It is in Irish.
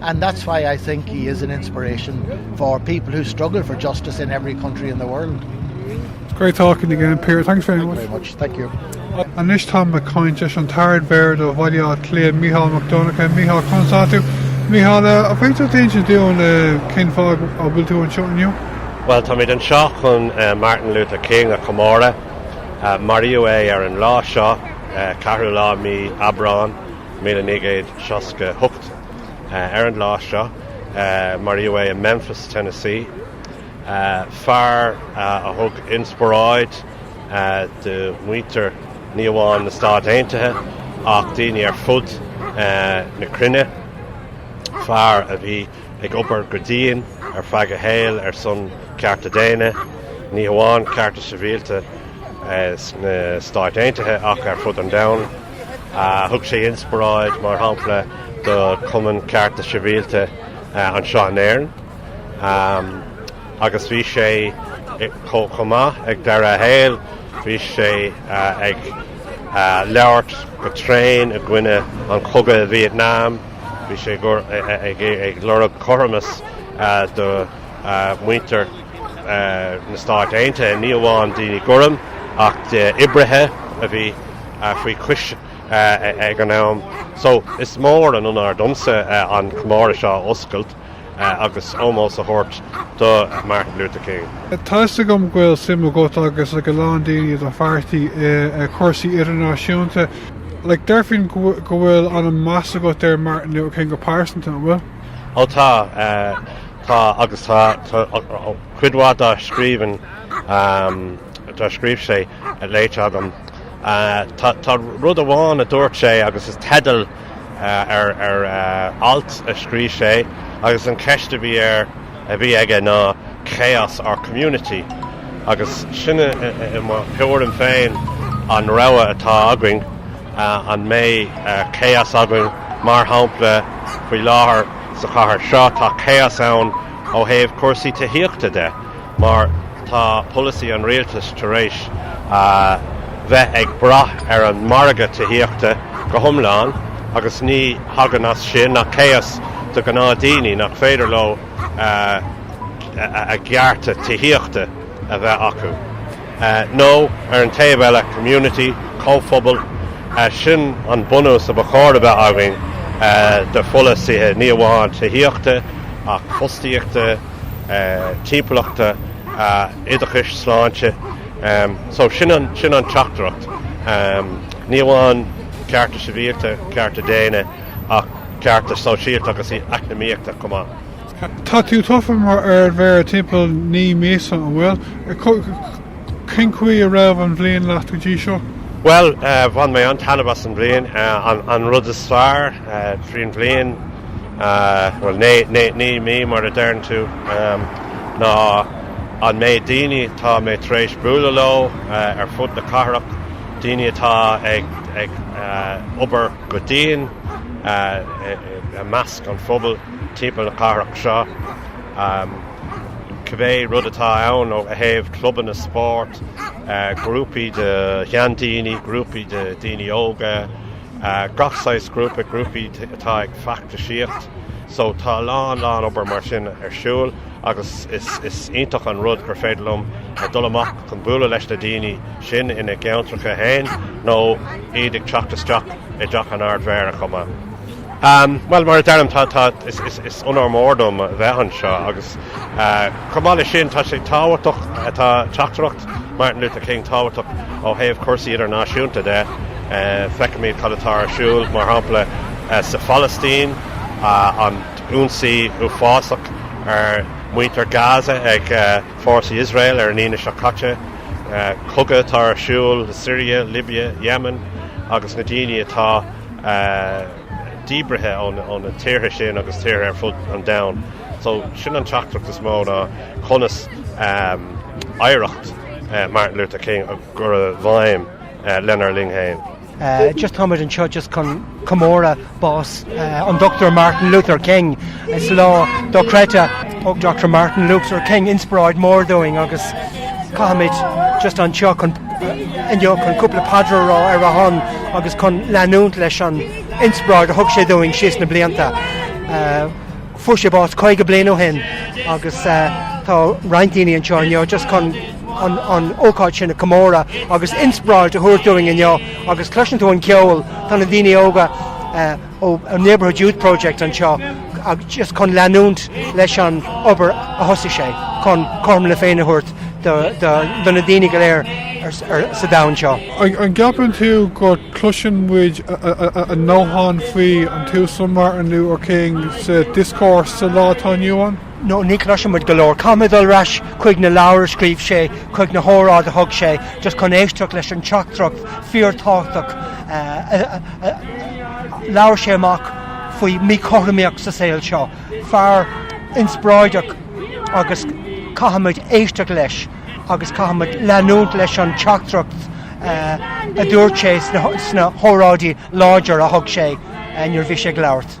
and that's why I think he is an inspiration for people who struggle for justice in every country in the world. It's great talking again, Peter. Thanks very much. Thank you. Anois táim ag caint leis an tArd Mhéara do Bhaile Átha Cliath, Micheál Mac Donncha. Micheál, conas tá tú? Micheál, an bhféadfá insint dúinn cén fáth a bhfuil tú anseo inniu? Bhuel, táimid anseo chun Martin Luther King a chomóradh. Maraíodh é ar an lá seo, ceathrú lá i mí Aibreáin. míle naoi gcéad seasca hocht. ar an lá seo maraíodh é i Memphis, Tennessee, fear a thug inspioráid do mhuintir ní amháin na Stát Aontaithe ach daoine ar fud na cruinne, fear a bhí ag obair go dian ar feadh a shaoil ar son cearta daonna, ní hamháin cearta sibhialta na Stáit Aontaithe ach ar fud an domhain. Thug sé inspioráid, mar shampla, do Chumann Cearta Sibhialta anseo in Éirinn agus bhí sé chomh maith ag deireadh a shaoil, bhí sé ag labhairt go tréan i gcoinne an chogadh Vietnam, bhí sé ag lorg cothromas do mhuintir na Stáit Aontaithe, ní amháin daoine gorm ach d'oibrithe a bhí faoi chois ag an am. So, is mór an onóir domsa an comóradh seo a oscailt agus ómós a thabhairt do Martin Luther King. Tá 'fhios agam go bhfuil suim agat agus ag a lán daoine i do pháirtí i cúrsaí idirnáisiúnta. Like, deirfinn go bhfuil an-meas agat ar Martin Luther King go pearsanta, an bhfuil? Ó tá. Tá, agus tá, cuid mhaith dá scríbhinn, dár scríobh sé, léite agam. Tá rud amháin a dúirt sé agus is teideal ar alt a scríobh sé agus an cheist a bhí air, a bhí aige ná 'Chaos or Community'. Agus sin i mo thuairim féin an rogha atá againn, an mbeidh chaos againn mar shampla faoi láthair, Sa chathair seo tá chaos ann ó thaobh cúrsaí tithíochta de mar tá polasaí an rialtais tar éis a bheith ag brath ar an margadh tithíochta go hiomlán agus ní thagann as sin ach chaos do ghnáthdhaoine nach féidir leo a gcearta tithíochta a bheith acu. Nó, ar an taobh eile, community, comhphobal, sin an bunús a ba chóir a bheith againn de pholasaithe ní amháin tithíochta ach fostaíochta, timpeallachta, oideachais, sláinte. So, sin an teachtaireacht, ní amháin cearta sibhialta, cearta daonna ach cearta sóisialta agus eacnamaíochta chomh maith. Tá tú tofa mar ardmhéara timpeall naoi míosa, an bhfuil? Cén chaoi a raibh an bhliain leat go dtí seo? Bhuel, bhain mé an-taitneamh as an bhliain. An rud is fearr tríd an bhliain, bhuel naoi mí mar a deireann tú, ná an méid daoine atá mé tar éis bualadh leo ar fud na cathrach, daoine atá ag obair go dian i measc an phobal. timpeall na cathrach seo. Cibé rud atá ann ó thaobh clubanna spóirt, grúpaí de sheandaoine, grúpaí de dhaoine óga, gach saghas grúpa, grúpaí atá ag feachtasaíocht. So tá a lán lán obair mar sin ar siúl agus is iontach an rud gur féidir liom a dul amach chun bualadh leis na daoine sin ina gceantracha féin nó iad ag teacht isteach i dTeach an Ardmhéara chomh maith. Bhuel, mar a deirim, tá, is onóir mór dom a bheith anseo agus, chomh maith leis sin, tá sé tábhachtach, tá teachtaireacht Martin Luther King tábhachtach ó thaobh cúrsaí idirnáisiúnta de. Feicimid cad atá ar siúl, mar shampla, sa Phalaistín, an t-ionsaí uafásach ar mhuintir Gaza ag fórsaí Israel ar an Aoine seo caite, cogadh atá ar siúl Syria, Libya, Yemen agus na daoine atá. díbrithe ó na tíortha sin agus tíortha ar fud an domhain. So sin an teachtaireacht is mó ná conas oidhreacht Martin Luther King a chur i bhfeidhm lenár linn féin. Just táimid anseo just chun comóradh bás an Dr Martin Luther King. Is lá dochreidte. Thug Dr Martin Luther King inspioráid mór dúinn agus táimid just anseo chun inniu chun cúpla paidir a rá ar a shon agus chun leanúint leis an inspioráid a thug sé dúinn síos na blianta. Fuair sé bás caoga bliain ó shin agus tá roinnt daoine anseo inniu just chun an ócáid sin a chomóradh agus inspioráid a thabhairt dúinn inniu agus cloiseann tú an ceol, tá na daoine óga, ó Neighbourhood Youth Project anseo just chun leanúint leis an obair a thosaigh sé chun cothrom na Féinne a thabhairt do na daoine go léir sa domhan seo. An gceapann tú go gcloiseann muid a ndóthain faoi an tUasal Martin Luther King sa discourse sa lá atá inniu ann? nó ní chloisimid go leor. Caithfimid dul ar ais chuig na leabhair a scríobh sé, chuig na hóráidí a thug sé, just chun éisteacht leis an teachtaireacht fíor-tábhachtach a labhair sé amach faoi mhíchothromaíocht sa saol seo. Fear inspioráideach agus caithfimid éisteacht leis agus caithfimid leanúint leis an teachtaireacht a dúirt sé sna hóráidí láidir a thug sé nuair a bhí sé ag labhairt.